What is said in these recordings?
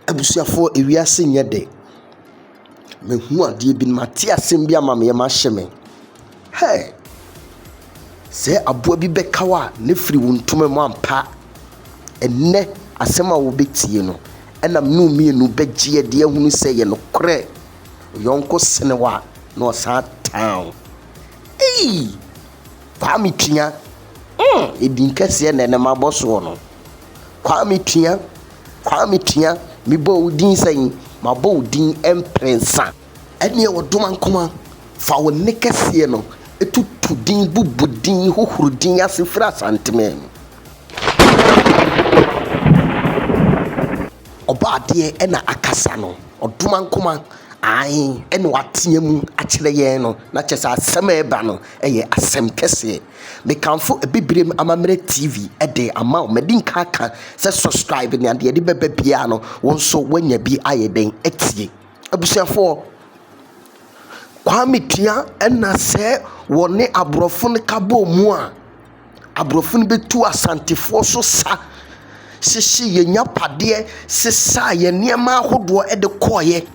Abusuafoɔ ewiase nyɛ dɛ. Mahu adeɛ bi, mate asɛm bi ama me yam ahyɛ me. Hey! Sɛ aboa bi bɛka wo a na firi wo ntoma mu ampa. Ɛnnɛ, asɛm a wobɛtie no nam no mmienu bɛgye adi ahunu sɛ yɛ nokorɛ. Wo yɔnko sene wo a, na ɔsan tan wo. Ei! Kwame Tua, mm, edin kɛseɛ na ɛnɛ mabɔ soɔ no. Kwame Tua, Kwame Tua, mebɔɔ wo din sɛn? Mabɔ wo din mprɛnsa. Ɛnneɛ wɔdoma nkoma fa wo nne kɛseɛ no tutu din, bubu din, hohoro din ase firi asanteman mu. Ɔbɔadeɛ ɛna akasa no, ɔdoma nkoma ae ɛna watea mu akyerɛ yɛn no, na kyerɛ sɛ asɛm a ɛreba no ɛyɛ asɛm kɛseɛ. Mekamfo Abibirem Amammerɛ TV de ama wo, madi nka aka sɛ subscribe na deɛ ɛde bɛba biara no wo nso woanya bi ayɛ dɛn atie. Abusuafoɔ, Kwame tua ɛna sɛ wɔne aborɔfo no ka bɔ mu a, aborɔfo no bɛtu asantefoɔ so sa hyehye yɛn agyapadeɛ sesaa yɛn nneɛma ahodoɔ de kɔeɛ.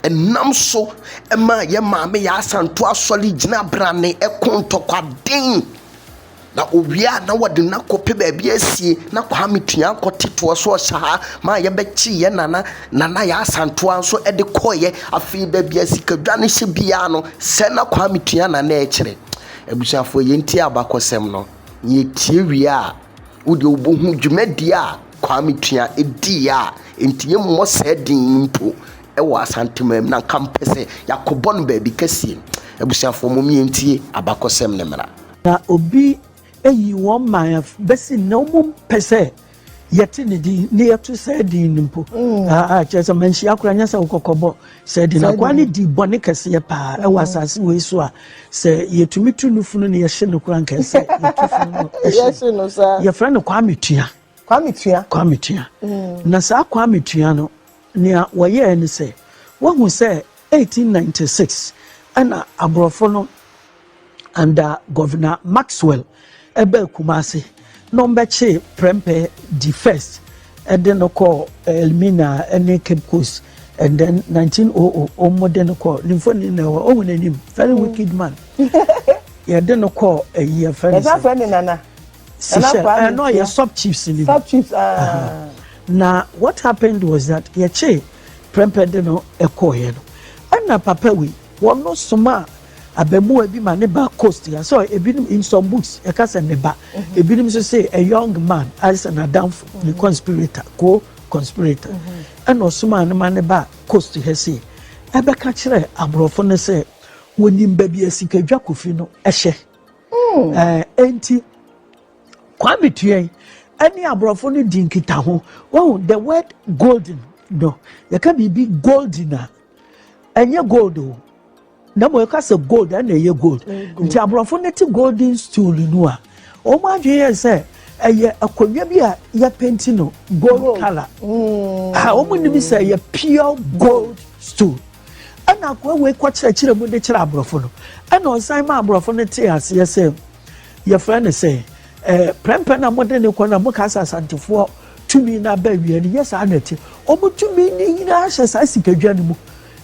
Ɛnam so maa yɛn maame Yaa Asantewaa Asɔre gyina berane koo ntɔkwaden. Na owie a na wɔde no akɔpɛ baabi asie na Kwame Tua akɔte toɔ so ɔhyɛ ha ma yɛbɛkye yɛ nana nana yɛ asantoa nso de kɔɔyɛ afei baabi a sikadwa no hyɛ biara no sɛ na Kwame Tua na na ɛkyerɛ abusuafoɔ yɛntie abakɔsɛm no na yɛtie wie a wodeɛ wobɛhu dwumadie a Kwame Tua ɛdii a ɛnti yɛmmɔ saa din no mpo ɛwɔ asantemaa mu na nka mpɛ sɛ yɛakɔbɔ no baabi kɛsie abusuafoɔ mom yɛntie abakɔsɛm no mmra Na obi ayi wɔn man afi bɛsi nnɛ, wɔmpɛ sɛ yɛte ne din na yɛto saa din no mpo. Mm. Ah, ah, kyerɛ sɛ manhyia koraa nyɛ sɛ wokɔkɔbɔ saa din no. Akoa no di bɔne kɛseɛ paa ɛwɔ mm. asase wei so a sɛ yɛtumi tu no funu no yɛhye no koraa nkɛɛ sɛ yɛtu funu no ɛhye no. Yɛfrɛ no Kwame Tua. Kwame Tua. Kwame Tua. Mm. Na saa Kwame Tua no, nea wɔyɛɛ ne sɛ, woahu sɛ 1896 ɛna aborɔfo no Under Governor Maxwell ɛbaa Kumasi na wɔbɛkyee Prempeh di first de no kɔɔ Elmina ne Cape Coast and then 1900 wɔn de no kɔɔ ne mfoni na ɛwɔ ɔwɔ n'anim very wicked man yɛde no kɔɔ ɛyi ɛfɛ ne sɛ ɛsan fɛ ne nana Seychelles ɛnɔ yɛ sub chiefs ni sub chiefs aa na what happened was that yɛkyee Prempeh de no ɛkɔɔ yɛ no ɛna papa wi wɔn no soma. Abɛmoa bi ma ne ba coast ya sɛ ebinom in some books ɛka sɛ ne ba ebinom nso se a young man ayɛ sɛ n'adamfo ne conspirator co conspirator ɛna ɔsomaa no ma ne ba coast ha se ɛbɛka kyerɛ aborɔfo no sɛ wɔnim baabi a sikadwa kofi no ɛhyɛ ɛɛ enti Kwame Tuɛn ɛne aborɔfo no di nkitaho wɔn the word golden no yɛka biribi golden a ɛnyɛ gold o. na mmom ɛka sɛ gold ɛna ɛyɛ gold nti aborɔfo no te golden stool no a wɔn adwene yɛ sɛ ɛyɛ akonnwa bi a yɛpenti no gold colour mm. a wɔn nim sɛ ɛyɛ pure gold stool ɛna akoa wei kɔ kyerɛkyerɛ mu de kyerɛ aborɔfo no ɛna ɔsan ma aborɔfo no te aseɛ sɛ yɛfrɛ no sɛ ɛɛ prɛmpɛ na mo de ne kɔ na mo kasa asantefoɔ tumi na abɛ wia no yɛ saa na ɛte wɔn tumi ne nyinaa hyɛ saa sikadwa no mu.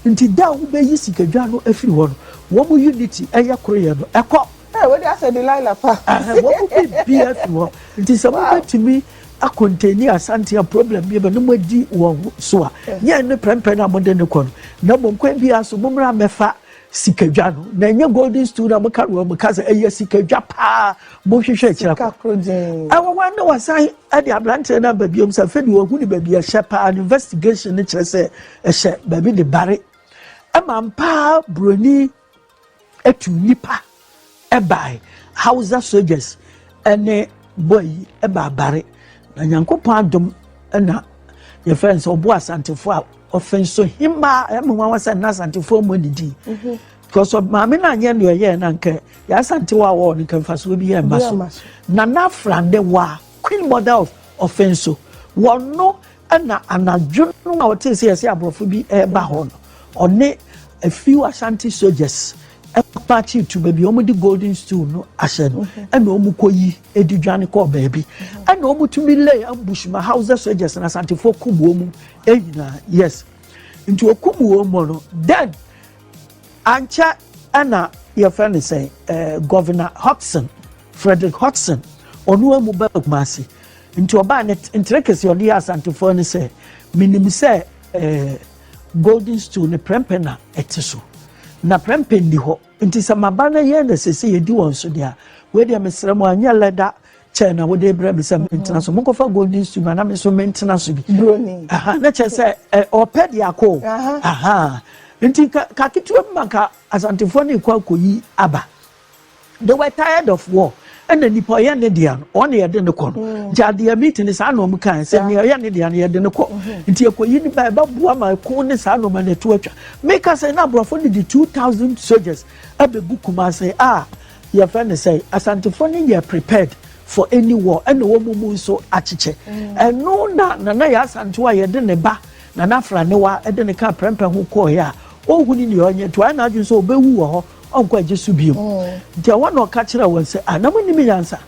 Nti da a wobeyi sikadwa no afiri hɔ no, wɔn unity, ɛyɛ koroyɛ no, ɛkɔ. Hey, wode asɛ Delilah pa. Ɛhɛn, wɔn mu biribiara afiri hɔ. Nti sɛ Wow. mobɛtumi akontaini Asante a problem bi ba na moadi wɔn ho so a, nyɛ ɛno prɛnprɛn a mode no kɔ no, na mmom kwan biara so mommra mmɛfa sikadwa no, na ɛnyɛ golden stool no a moka no wɔ mo kasa, ɛyɛ sikadwa paa mohwehwɛ akyiri akɔ. Sika koro dzinn. Ɛwɔ hɔ ara na wɔsan de aberanteɛ no aba biom sɛ afei deɛ wɔahu no baabi a ɛhyɛ paa no investigation no kyerɛ sɛ Ɛhyɛ baabi de bare. Ɛma mpaa buroni atu nnipa ɛbae. Hausa soldiers ɛne bɔ yi ɛbaa bare. Na Nyankopɔn adom ɛna yɛfrɛ nso ɔbo asantefoɔ a ɔfɛn so himaa ɛmu nwanwa sɛ na asantefoɔ mmɔ ne din. Mhm. Because maame no anyɛ nea ɔyɛɛ no anka yɛ asantewa a wɔwɔ no nka mfasoɔ bi yɛ mma so. Nana Afrande wa Queen Mother of Ɔfɛn so wɔno Ɛnna anadwo no a ɔtee sɛ yɛsɛ aborɔfo bi reba hɔ no, ɔne a few Ashanti soldiers kɔpakyee tu baabi a wɔde golden stool no ahyɛ no mhm. ɛnna wɔkɔyi ɛdi dwane kɔɔ baabi mhm. ɛnna wɔtumi lay ambush ma Hausa soldiers na Asantefoɔ kum wɔn mu nyinaa yes nti wɔkum wɔn mu no then ankyɛ ɛnna yɛfrɛ no sɛ ɛɛ eh, governor Hodgson Frederick Hodgson ɔno amu bɛɛ kumase Nti ɔbaa ne ntere kɛseɛ ɔde yɛ Asantefoɔ ne sɛ, Menim sɛ eh, golden stool ne prɛmpɛ na ɛte so, na prɛmpɛ nni hɔ. Nti sɛ maba no yɛn na sese yɛdi wɔn so deɛ a, wei deɛ mesrɛ mo anyɛ lɛda kyɛɛ na wode brɛ me sɛ mentena so monkɔfa golden stool na na me so mentena so bi. Aha, na kyerɛ sɛ eh, ɔpɛ de akɔ. Aha. Nti ka, ka ketewa bi ma ka Asantefoɔ ne kɔ akɔyi aba. They were tired of war. Ɛna nipa ɔyɛ ne deɛ no, ɔne yɛde ne kɔ no. Mm. Nti adeɛ meeting saa na ɔmo kan sɛ nea ɔyɛ ne deɛ no yɛde ne kɔ. Mm-hmm. Nti ekoyi ne ba ɛbɛboa ma ɛko ne saa nneɛma no ɛto atwa. Meka sɛ na aborɔfo no de two thousand soldiers abɛgu Kumase a yɛfrɛ ne sɛ Asantefoɔ no yɛ prepared for any war ɛna wɔn mu nso akyekyɛ. Mm. Ɛno na nana yɛ asantewa a yɛde ne ba nana afra ne wa ɛde ne ka prɛmpɛ ho kɔɔɛ a ohun ne deɛ ɔnyɛ to ayɛ n'adwene sɛ ɔbɛwu wɔ hɔ. Ɔnkɔ agye so bio. Nti ɛhɔ na ɔka kyerɛɛ wɔn sɛ, Ah, na monnim nyansa?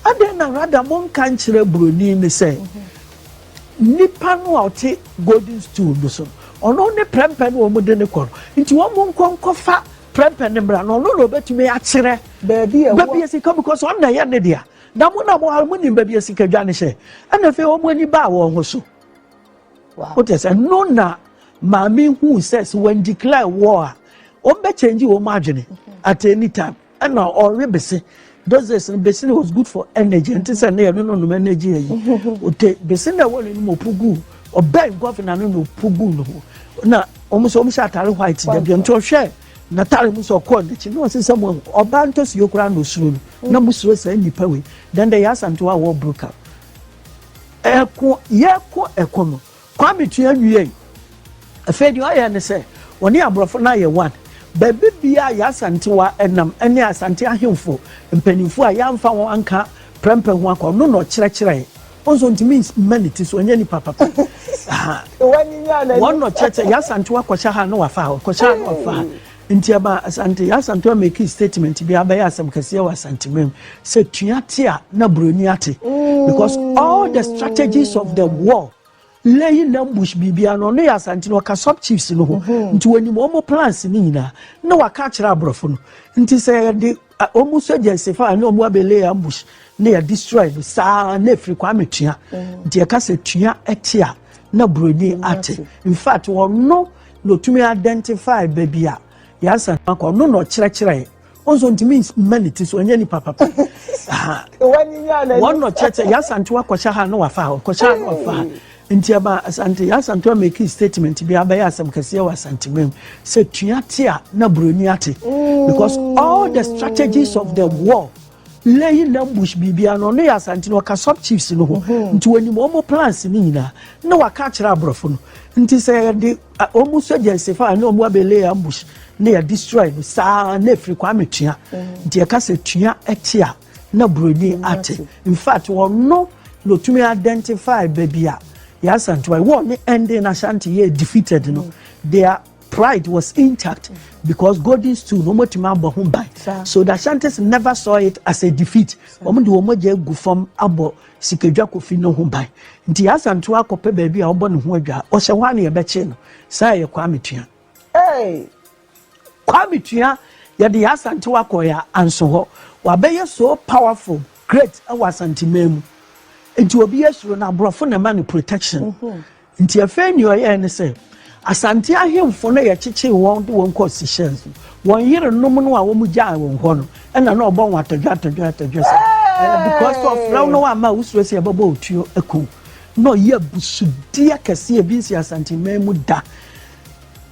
Adɛn na rada monka nkyerɛ buroni no sɛ, nipa no a ɔte golden stool no so no, ɔno ne prɛmpɛ no a wɔde no kɔ no. Nti wɔnkɔ nkɔfa prɛmpɛ no mmra, na ɔno na ɔbɛtumi akyerɛ baabi a sika because ɔno na ɛyɛ ne dea. Na mo na monim baabi a sikadwa no hyɛ. Ɛnna afei wɔn ani baa wɔn ho so. Wote sɛ no na maame hu sɛ sɛ wɔn declare war a wɔn bɛ change wɔn adwene at any time ɛna ɔwe bese those days no bese no was good for energy nti sɛ ne yɛ no no nom energy yɛ yi ote bese na ɛwɔ ne nom opu gu ɔbɛn gɔvina no na opu gu no ho na wɔn nso wɔn hyɛ atare white dabi nti ɔhwɛ n'atare mu sɛ ɔkɔɔ n'akyi na ɔsi sɛ mo ɔbaa ntɔsi yɛ koraa na osuro no na mo suro sɛ nipa wei then the yasa nti wa wɔ broke up. Ɛko, yɛko ɛko no. Kwame tua wiei. Afei deɛ ɔyɛ ne sɛ, ɔne aborɔfo no ayɛ one. Baabi biara yɛ Asantewa nam ne Asante ahemfo mpaninfoɔ a yɛamfa wɔn anka prɛmpɛ ho akɔ, ɔno na ɔkyerɛkyerɛɛ. Wo nso ntumi mma ne ti so, ɔnyɛ nipa papa. Wɔn na ɔkyerɛkyerɛ, yɛ Asantewa kɔhyɛ ha na wafa ha, ɔkɔhyɛ ha na wafa ha. Nti ɛma Asante yɛ Asantewa mekii statement bi a abɛyɛ asɛm kɛseɛ wɔ Asanteman mu sɛ tua te a na buroni ate because all the strategies of the war laying ambush biribia no ɔno yɛ Asante no ɔka sub chiefs no ho nti wɔnim wɔn plans no nyinaa na waka akyerɛ aborɔfo no nti sɛ yɛde A Ɔmu sɛ gyɛ nse fa a ne ɔmu abɛ lay ambush ne yɛ destroy no saa na ɛfiri Kwame Tua nti yɛka sɛ Tua ɛte a na Buroni ate in fact ɔno na ɔtumi identify baabi a Yansa no akɔ ɔno na ɔkyerɛkyerɛɛ ɔnso ntumi mma ne ti so ɔnyɛ nipa papa wɔn na ɔkyerɛkyerɛ Yansa nti wakɔhyɛ ha na wafa ha ɔkɔhyɛ ha na wafa ha Nti ɛma Asante yɛ Asantewa mekii statement bi a abɛyɛ asɛm kɛseɛ wɔ Asanteman mu sɛ tua te a na buroni ate mm. because all the strategies of the war lẹ́yìn ambush biribiara no ɔno yɛ asante no ɔka sub chiefs no ho mhm. nti wɔnim wɔn plans no nyinaa na waka akyerɛ aborɔfo no nti sɛ yɛde wɔn sogya nsefa a na wɔn abɛ lay ambush na yɛ destroy no saa na efiri kwame tua mhm. nti yɛka sɛ tua ɛte a. na buroni ate in fact ɔno na otumi identify baabi a yasantua wɔ ne ending na shanti yɛ defeated no their pride was intact because golden stool no wɔn atumi abɔ ho ban so the shantis never saw it as a defeat wɔn de wɔn agya egu fam abɔ sikadwa kofi no ho ban nti yasantua akɔpɛ baabi a ɔbɔ ne ho adwa ɔhyɛ hɔ a na yɛbɛkye no saa yɛ kwame tua. Hey. Kwame tua yɛde yɛ asante wakɔ yɛ anso hɔ wabɛyɛ so powerful great wɔ asante man mu nti obi asuro no aborɔfo na ɛma no protection nti afei ni ɔyɛ ne sɛ asante ahemfo no yɛ kyekyee wɔn de wɔn kɔ Seychelles wɔn yere nom no a wɔn gyaa wɔn hɔ no ɛna na ɔbɔ wɔn atɔdwa atɔdwa atɔdwa sɛ because of fɛw no ama wosuro sɛ ɛbɛbɔ otuo ɛkɔ na ɔyɛ abusudeɛ kɛseɛ bi nsi asante man mu da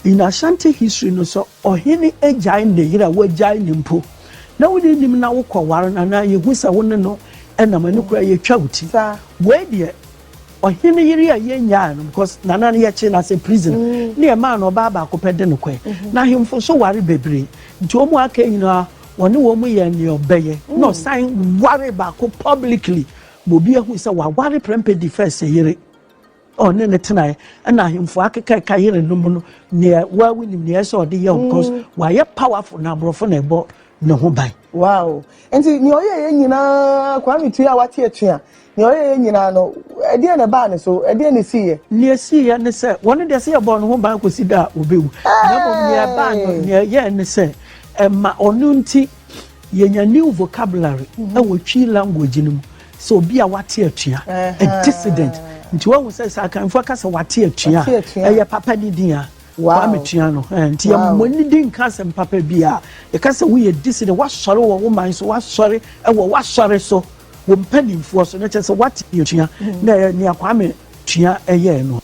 In Ashanti history no sɛ ɔhene agyae ne yere a wagyae no mpo na wo ne nim na wokɔ ware no anaa yɛhu sɛ wo ne no nam ɛno koraa yɛtwa wo ti. Wei deɛ ɔhene yere a yɛnyaa no because nana no yɛkyee no asɛ prisoner mm. ne ɛmaa no ɔbaa baako pɛ de no kɔɛ mm-hmm. na ahemfo so ware bebree nti wɔn aka nyinaa wɔne wɔn yɛ nea ɔbɛyɛ mm. na ɔsan ware baako publicly ma obi ahu sɛ waware prɛmpɛ di fɛs yere ɔne no tenae ɛna ahemfo akekaeka yerenom no nea waa wonim nea ɛsɛ ɔde yɛ ɔkɔs mm. wayɛ powerful na aborɔfo na ɛbɔ ne ho ban. wow nti nea ɔyɛ yɛ nyinaa kwame tua a wate atua nea ɔyɛ yɛ nyinaa no ɛdeɛ na ɛbaa ne so ɛdeɛ na esi yɛ. nea esi yɛ ne sɛ wɔn deɛ sɛ yɛbɔ ne ho ban kɔsi da a obewu na mmom nea ɛbaa no nea ɛyɛ ne sɛ ɛma ɔno nti yɛnya new vocabulary mm-hmm. ɛwɔ twi language no mu. Sɛ obi a wate atua, a dissident. Nti wahu sɛ sɛ Akanfoɔ ka sɛ wate atua, ɛyɛ papa ne din a Kwame Tua no. Nti yɛmmɔ ne din nka asɛm papa bi a yɛka sɛ woyɛ dissident, woasɔre wɔ wo man so, woasɔre wɔ woasɔre so, wo mpanimfoɔ so, na kyerɛ sɛ wate atua. Na ɛyɛ nea Kwame Tua yɛɛ no.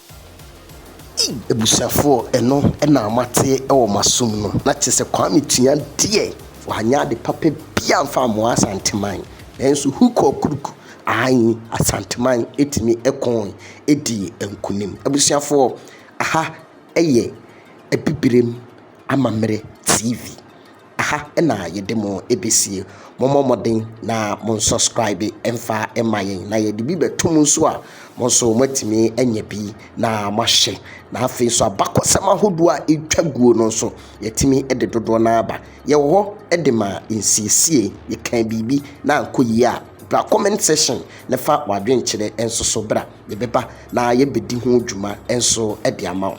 Ei abusuafoɔ ɛno na moate wɔ moasom no na kyerɛ sɛ Kwame Tua deɛ wanyɛ ade papa bia amfa amoa Asanteman nanso hook or crook ae Asanteman ɛtumi ɛkooe ɛdii nkunim. Abusuafoɔ aha ɛyɛ Abibirem Amammerɛ TV. Aha na yɛde mo ɛbɛsie. Mommɔ mmɔden na mo nsɔskraibe mfa mma yɛn na yɛde bi bɛto mu nso a mo nso moatumi anya bi na moahyɛ. Na afei nso abakɔsɛm ahodoɔ a ɛtwa guo no nso yɛatumi de dodoɔ no aba. Yɛwɔ hɔ de ma nsiesie. Yɛkaa biribi na ankɔ yie a bra comment section na fa w'adwenkyerɛ nso so bra. Yɛbɛba na yɛbɛdi ho dwuma nso de ama wo.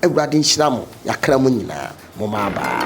Awurade nhyira mo yakra mu nyinaa mo mma abaa.